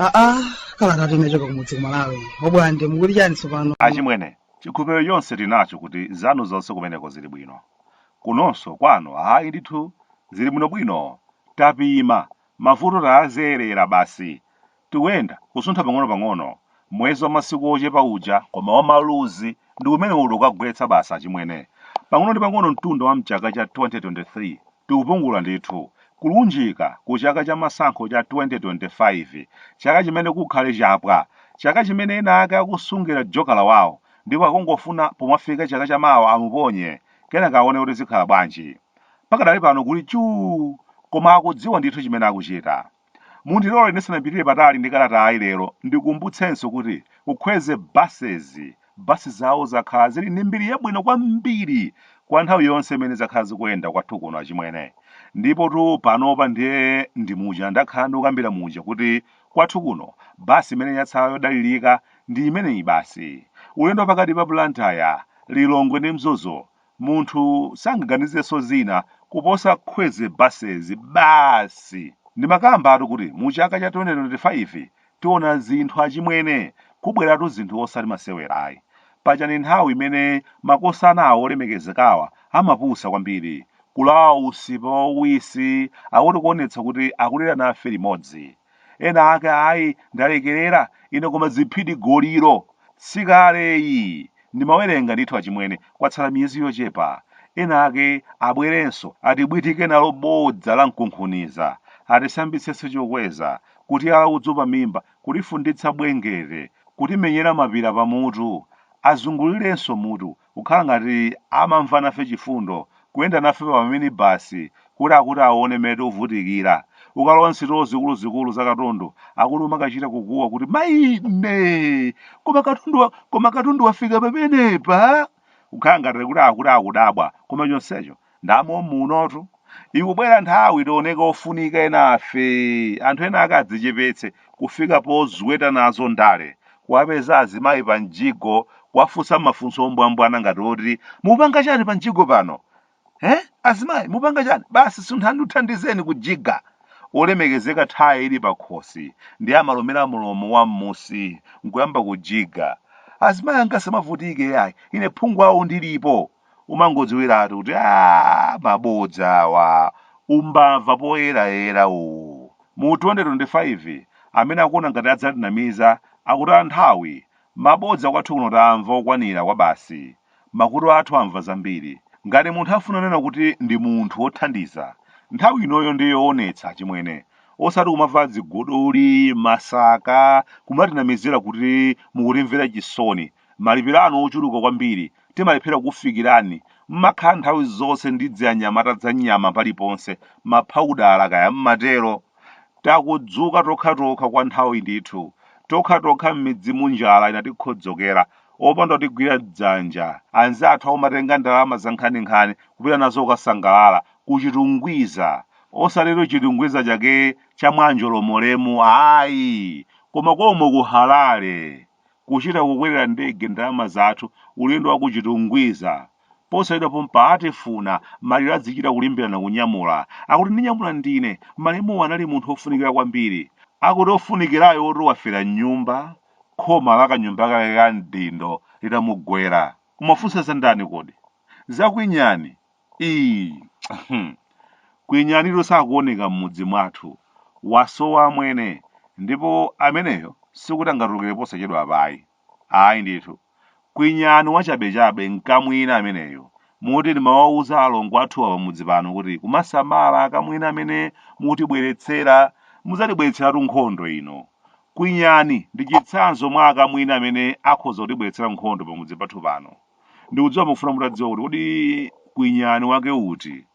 aa kalata tinachoka kumudzi kumalawi obwande mukuti chani tsopano achimwene chikhulupiriro chonse tinacho kuti zanu zonse kumeneko zili bwino kunonso kwanu ayi ndithu zili bwinobwino tapima mavuto tawazolowera basi Tikuyenda, kusuntha pang'onopang'ono, mwezi wa masiku ochepa uja, koma wa maluzi, ndi umenewo uli kukagwetsa basi, achimwene. Pang'ono ndi pang'ono mtunda wa mchaka cha 2023, tikupungula ndithu, kulunjika ku chaka cha masankho cha 2025, chaka chimene kukhale chapwa, chaka chimene ena ake akusungira jokala wawo, ndipo akungofuna pomafika chaka cha mawa amuponye, kenaka awone kuti zikhala bwanji. Pakadali pano kuli chuu! Koma akudziwa ndithu chimene akuchita. Mundilole ndisanapitire patali ndi kalatayi lero ndikumbutsenso kuti ku Kwezy Buses, bus zawo zakhala zili ndi mbiri yabwino kwambiri kwa nthawi yonse imene zakhala zikuyenda kwathu kuno achimwene. Ndipotu panopa ndiye ndi muja ndakhala ndikukambira muja kuti kwathu kuno bus imene yatsala yodalirika ndi imeneyi basi. Ulendo wapakati pa Blantyre, Lilongwe ndi Mzuzu Munthu sangaganizenso zina kuposa Kwezy buses basi! Ndimakambatu kuti mu chaka cha 2025 tiona zinthu achimwene, kubweratu zinthu osati masewera ayi. Paja ndi nthawi imene makosanawa olemekezekawa amapusa kwambiri, kulawa usipa wawisi akuti kuonetsa kuti akulira nafe limodzi. ena ake ayi ndalekerera ine koma ziphidigoliro sikaleyi ndimawerenga ndithu achimwene kwatsala miyezi yochepa ena ake abwerenso atibwitike nalo bodza la mkunkhuniza atisambitsenso chokweza kutiyala udzu pa mimba kutifunditsa bwengere kutimenyera mapira pamutu azungulirenso mutu kukhala ngati amamva nafe chifundo, kuyenda nafe pa maminibasi kuti akuti aone mmene tikuvutikira. Ukalowa m'sitolo zikuluzikulu za katundu, akuti umakachita kukuwa kuti, Maine! Koma katundu wafika pamenepa? Kukhala ngati kuti akuti akudabwa, koma chonsecho nda mommunotu ikubwera nthawi tioneke ofunika enafe anthu ena ake adzichepetse kufika pozweta nazo ndale kuwapeza azimayi pa mjigo kuwafunsa mafunso ombwambwana ngati oti mupanga chani pa mjigo pano eh azimayi mupanga chani basi sunthani ndithandizeni kujiga olemekezeka thaye ili pakhosi ndiye amalumira mlomo wa mmusi nkuyamba kujiga azimayi angasamavutike yayi ine phungu wawo ndilipo umangodziwiratu kuti aa mabodza awa umbava poyerayera uwu mu 2025 amene akuona ngati adzatinamiza akuti athawe mabodza kwathu kuno tamva okwanira kwa basi makutu athu amva zambiri ngati munthu afuna kunena kuti ndi munthu wothandiza nthawi inoyo ndi yoonetsa chimwene osati kumavala dziguduli masaka kumatinamizira kuti mukutimvera chisoni Malipiro anu ochuluka kwambiri timalephera kufikirani mmakhala nthawi zonse ndi dzianyamata dzanyama paliponse maphawudala kaya mmatero? Takunzuka tokhatokha kwa nthawi ndithu. Tokhatokha mmidzimu njala inatikhodzokera. Opanda otigwira dzanja. Anzathu omatenga ndalama zankhaninkhani kupita nazo kukasangalala ku Chitungwiza. Osatitu Chitungwiza chake cha mwa Njolomolemu ayi! Koma komwe ku Harare! kuchita kukwera ndege ndalama zathu ulendo wa ku Chitungwiza ponsaidwapompa atifuna maliro adzichita kulimbirana kunyamula akuti ndinyamula ndine malemuwo anali munthu wofunikira kwambiri akuti ofunikirayo woti wafera mnyumba khoma la kanyumba kake ka mdindo litamugwera kumafunsa za ndani kodi za Kwinyani Iii hmm Kwinyanitu sakuoneka mmudzi mwathu wasowa amwene ndipo ameneyo sikuti angatulukire posachedwapa ayi ayi ndithu Kwinyani wachabechabe nkamwini ameneyo moti ndimawauza alongo athuwa pamudzi pano kuti kumasamala akamwini amene mutibweretsera mudzatibweretseratu nkhondo ino Kwinyani ndi chitsanzo mwa akamwini amene akhoza kutibweretsera nkhondo pamudzi pathu pano. Ndikudziwa mukufuna mutadziwa kuti kodi Kwinyani wake uti?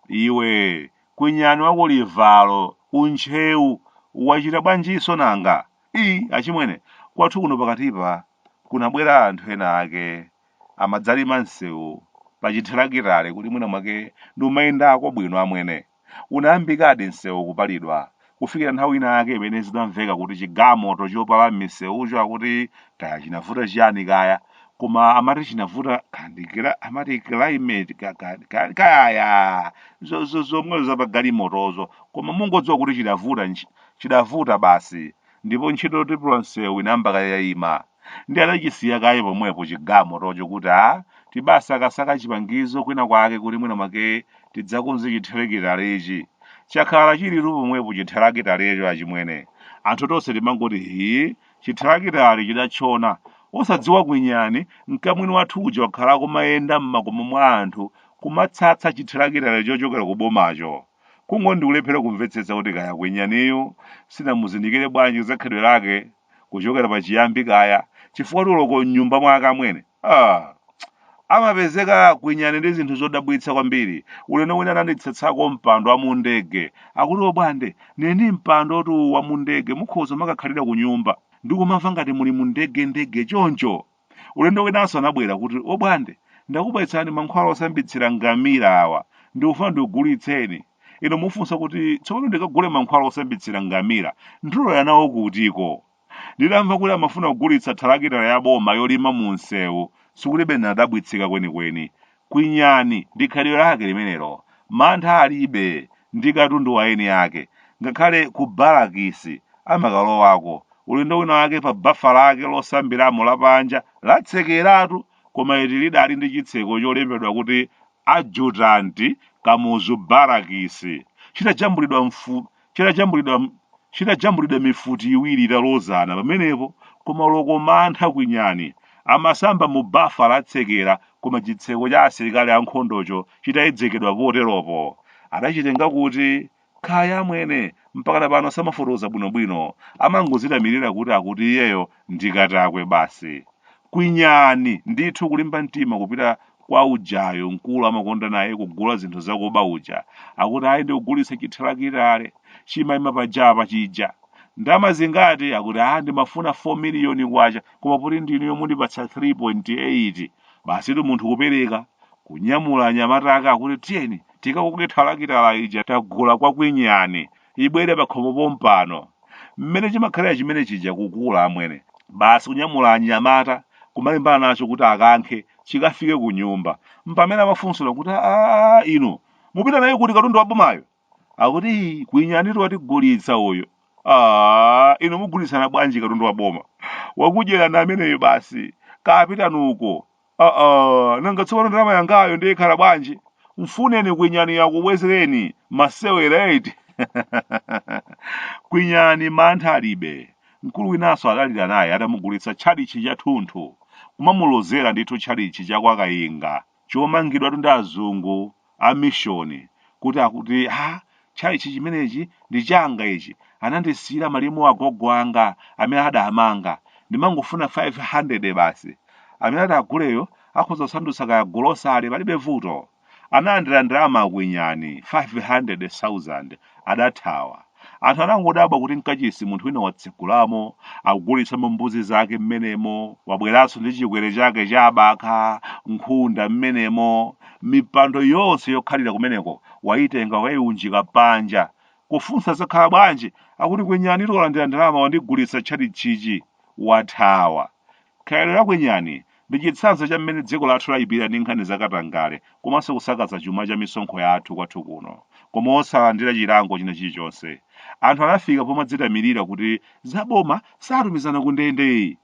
Iwe Kwinyani wa ku Livalo, ku Ntcheu, wachita bwanjinso nanga? Ii achimwene, kwathu kuno pakatipa kunabwera anthu ena ake amadzalima msewu pa chithirakitale kuti mwina mwake ndikumayendako bwino amwene. Unayambikadi msewu kupalidwa kufikira nthawi ina yake imene zidamveka kuti chigalimoto chopala m'miseucho akuti kaya chinavuta chiyani kaya koma amati chinavuta kaya ndi amati climate ka, ka, ka, kaya yaa zo, zo, zomwezo za pagalimotozo koma mungodziwa kuti chidavuta nch- chidavuta basi ndipo ntchito yotipula msewu inayamba kaye yayima ndi anachisiya kaye pomwepo chigalimotocho kuti a tibasakasaka chipangizo kwina kwake kuti mwina mwake tidzakonze chithelakitalechi chakhala chilitu pomwepo chithelakitalecho achimwene anthu tonse timangoti hii chithelakitale chidatchona osadziwa Kwinyani mkamwini wathu uja wakhala akumayenda m'makomo mwa anthu kumatsatsa chithelakitale chochokera ku bomacho Kungoti ndikulephera kumvetsetsa kuti kaya kwinyaniyu sinamuzindikire bwanji za khalidwe lake kuchokera pa chiyambi kaya chifukwa tu loko mnyumba mwa akamwene ah! amapezeka kwinyani ndi zinthu zodabwitsa kwambiri ulendo wina anandisatsako mpando wa mundege akuti obwande ine ndi mpando tu wa mundege mukhoza kumakakhalira kunyumba ndikumamva ngati muli mundege ndege choncho Ulendo winanso anabwera kuti, Obwande, ndakupezerani mankhwala osambitsira ngamila awa, ndikufuna ndikugulitseni. Ine kumufunsa kuti, Tsopano ndikagule mankhwala osambitsira ngamila, ndilowera nawo kutiko? Nditamva kuti amafuna kugulitsa thalakitala ya boma yolima mumsewu, sikuti bwenzi ndadabwitsika kwenikweni, kwinyani ndi khalidwe lake limenelo. Mantha alibe ndi katundu wa eni ake. Ngakhale ku barakisi amakalowako, ulendo winawake pa bafa lake losambiramo lapanja latsekeratu koma eti lidali ndi chitseko cholembedwa kuti Adjutant Kamuzu Barracks chidajambulidwa mfu chidajambulidwa mifuti iwiri italozana pamenepo koma loko mantha kwinyani amasamba mu bafa latsekera koma chitseko cha asilikali ankhondocho chitayedzekedwa poteropo adachitenga kuti kaya amwene mpakana pano samafotokoza bwinobwino amangodzitamirira kuti akuti iyeyo ndi katakwe basi. Kwinyani ndithu kulimba mtima kupita kwa ujayo mkulu amakonda naye kugula zinthu zakuba uja akuti ayi ndikugulitsa chithalakitale chimayima pajapa chija ndama zingati akuti ah ndimafuna 4 miliyoni kwacha koma poti ndinu omwe mundipatsa 3.8 basitu munthu kupereka kunyamula anyamata ake akuti tiyeni tikakoke thalakitala ija tagula kwa kwinyani ibwere pakhomo pompano mmene chimakhalira chimene chija kukula amwene basi kunyamula anyamata kumalimbana nacho kuti akankhe chikafike ku nyumba mpamene amafunsidwa kuti aa inu mupita naye kuti katundu wa bomayo akuti "Ii, kwinyanitu watigulitsa uyo aa inu mugulitsana bwanji katundu wa boma wakudyerani ameneyo basi kapitani uko aa nanga tsopano ndalama yangayo ndiye ikhala bwanji mfuneni kwinyani akubwezereni masewera eti kwinyani mantha alibe mkulu winanso adalira naye atamugulitsa tchalitchi chathunthu kumamulozera ndithu tchalitchi cha kwa kayinga chomangidwatu ndi azungu a mishoni kuti akuti ha tchalitchi chimenechi ndi changa ichi anandisiyira malemu agogo anga amene adamanga ndimangofuna 500 basi amene ati aguleyo akhoza kusandutsa kaya golosale palibe vuto analandira ndalama akwinyani 500,000 adathawa. Anthu anangodabwa kuti m'kachisi munthu wina watsegulamo, akugulitsamo mbuzi zake mmenemo, wabweranso ndi chikwere chake cha abakha, nkhunda mmenemo. Mipando yonse yokhalira kumeneko waitenga wakaiunjika panja. Kufunsa zakhala bwanji, akuti kwinyanitu walandira ndalama wandigulitsa tchalitchichi. Wathawa. Khalidwe la kwinyani ndi chitsanzo cha mmene dziko lathu laipira ndi nkhani za katangale komanso kusakaza chuma cha misonkho yathu kwathu kuno, koma osalandira chilango china chilichonse. Anthu anafika pomadzitamirira kuti za boma satumizana kundende!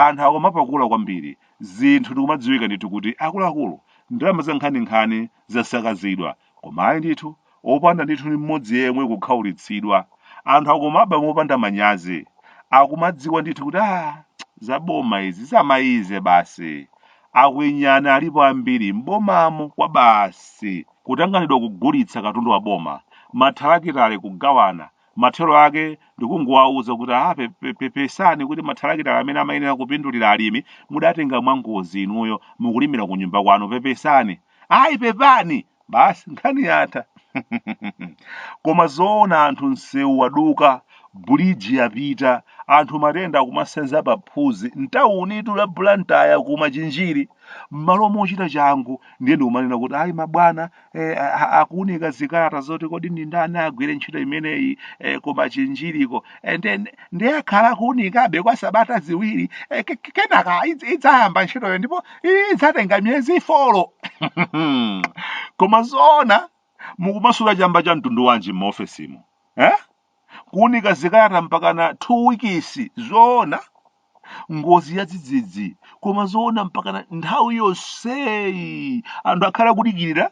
Anthu akumapakula kwambiri zinthu ndikumadziwika ndithu kuti akuluakulu, ndalama zankhaninkhani zasakazidwa. Koma ayi ndithu, opanda ndithu ni mmodzi yemwe kukhaulitsidwa. Anthu akumaba mopanda manyazi. Akumadziwa ndithu kuti aah za boma izi zamayize basi. Akwinyani alipo ambiri m'bomamo kwabasi. Kutanganidwa kugulitsa katundu wa boma, mathalakitale kugawana, Mathero ake ndi kungowauza kuti aa pe- pe- pepesani kuti mathalakitala amene amayenera kupindulira alimi mudatenga mwangozi inuyo mukulimira kunyumba kwanu pepesani. Ayi pepani! Basi nkhani yatha. Koma zoona anthu msewu waduka, buliji yapita, anthu matenda akumasenza paphuzi m'taunitu la Blantyre ku Machinjiri. M'malo mochita changu ndiye ndikumanena kuti ayi mabwana eh, a- akuunika zikalata zoti kodi ndi ndani agwire ntchito imeneyi eh, ku Machinjiriko and then ndiye akhala akuunikabe kwa sabata ziwiri eh, ke- ke- kenaka idz- idzayamba ntchitoyo ndipo idzatenga miyezi folo koma zoona mukumasuta chamba cha mtundu wanji m'maofesimo eh? kuunika zikalata mpakana 2 wikisi zoona ngozi yadzidzidzi koma zoona mpakana nthawi yonseyi anthu akhale akudikirira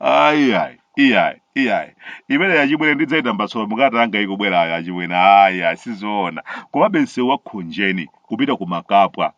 ayi ayi iyayi iyayi imeneyi achimwene ndidzaitambasula mukalata yanga ikubwerayo achimwene ayi ayi sizoona komabe msewu wa Khonjeni kupita ku Makapwa